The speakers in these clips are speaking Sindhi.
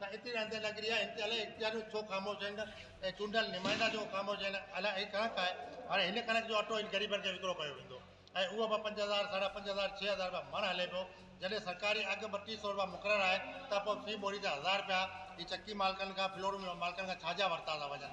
ته اتي رهندڙ نگري جا امتيالي اختياريون ڇو خاموش آهن ۽ چونڊيل نمائندا ڇو خاموش آهن؟ الا هي ڪڻڪ آهي، هاڻي هن ڪڻڪ جو اٽو هن غريبن کي وڪرو ڪيو ويندو ۽ اهو به پنج هزار، ساڍا پنج هزار، ڇهه هزار رپيا مڻ هلي پيو، جڏهن سرڪاري اگهه ٻٽيهه سئو رپيا مقرر آهي ته پوء في ٻوري تي هزار رپيا هي چڪي مالڪن کان، فلورو ملن مالڪن کان ڇا جا ورتا ٿا وڃن؟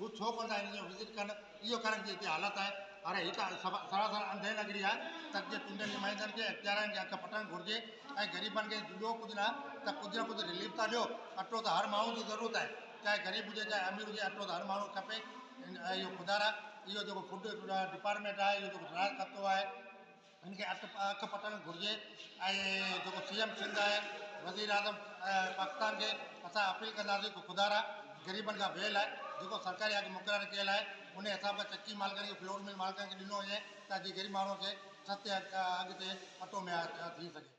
هو ڇو ڪونه ٿا اينديون وزٽ ڪن اهو ڪرن جي هتي حالت آهي اري هي ته سراسر انڌي نگري آهي تت جي ٽنڊن جي مهندن کي اختيارين کي اک پٽڻ گهرجي ۽ غريبن کي ٻيو ڪجهه نه ته ڪجهه نه ڪجهه رليف ته ڏيو اٽو ته هر ماڻهو جي ضرورت آهي چاهي غريب هجي چاهي امير هجي اٽو ته هر ماڻهو کي کپي اهو خدارا اهو جيڪو فوڊ ڊپارٽمينٽ آهي اهو جيڪو ڊرائر ڪتو آهي هن کي اک پٽڻ گهرجي ۽ جيڪو سي ايم سنڌ آهي وزيراعظم پاڪستان کي اسان اپيل ڪنداسين ته خدارا غريبن کان ويهه لاء جيڪو سرڪاري اگهه مقرر ڪيل آهي انهي حساب کان چڪي مالڪن کي فلور مل مالڪن کي ڏنو وڃي ته جيئن غريب ماڻهو کي سستي اگهه تي اٽو مهيا ٿي سگهي.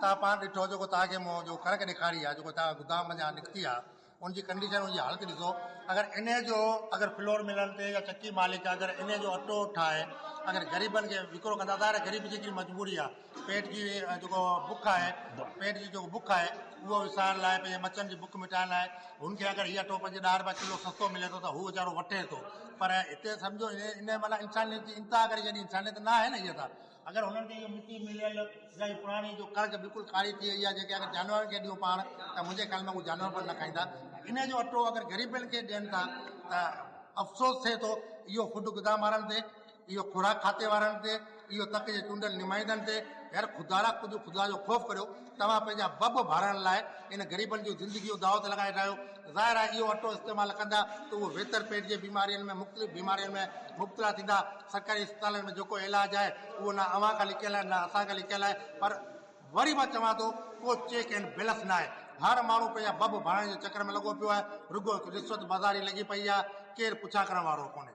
توهان پاڻ ڏٺو جيڪو توهان کي مون جو ڪڻڪ ڏيکاري آ جيڪو توهان گدام منجهان نڪتي آ ان جي ڪنڊيشن ان جي حالت ڏسو اگر انهي جو اگر فلور ملن تي يا چڪي مالڪ اگر انهي جو اٽو ٺاهي اگر غريبن کي وڪرو ڪندا ظاهر غريب جي ڪي مجبوري آ پيٽ جي جيڪو بک آهي پيٽ جي جيڪو بک آهي اهو وسارڻ لاء پنهنجي مچن جي بک مٽائڻ لاء هن کي اگر هي اٽو پنهنجي ڏهه رپيا ڪلو سستو ملي ٿو ته هو ويچارو وٺي ٿو پر هتي سمجهو انهي معنيٰ انسانيت جي انتها ڪري ڇڏي انسانيت ناهي نه هي ته اگر هنن کي اهو مٽي مليل يا اهي پراڻي جو ڪڻڪ بلڪل ڪاري ٿي وئي آهي جيڪي اگر جانورن کي ڏيون پاڻ ته منهنجي خيال ۾ اهي جانور به نه کائيندا انهي جو اٽو اگر غريبن کي ڏين ٿا ته افسوس ٿئي ٿو اهو خود غذا وارن تي اهو خوراڪ کاتي وارن تي اهو تڪ جي چونڊيل نمائندن تي يار خدارا ڪجهه خدا جو خوف ڪريو توهان پنهنجا بب ڀرڻ لاء ان غريبن جون زندگيون داء تي لڳائي رهيو ظاهر آهي اهو اٽو استعمال ڪندا ته اهو ويتر پيٽ جي بيمارين ۾ مختلف بيمارين ۾ مبتلا ٿيندا سرڪاري اسپتالن ۾ جيڪو علاج آهي اهو نه اوهان کان لڪيل آهي نه اسان کان لڪيل آهي پر وري مان چوان ٿو ڪو چيڪ اينڊ بيلنس نه آهي هر ماڻهو پنهنجا بب ڀرڻ جي چڪر ۾ لڳو پيو آهي رڳو رشوت بازاري لڳي پئي آهي ڪير پڇا ڪرڻ وارو ڪونهي.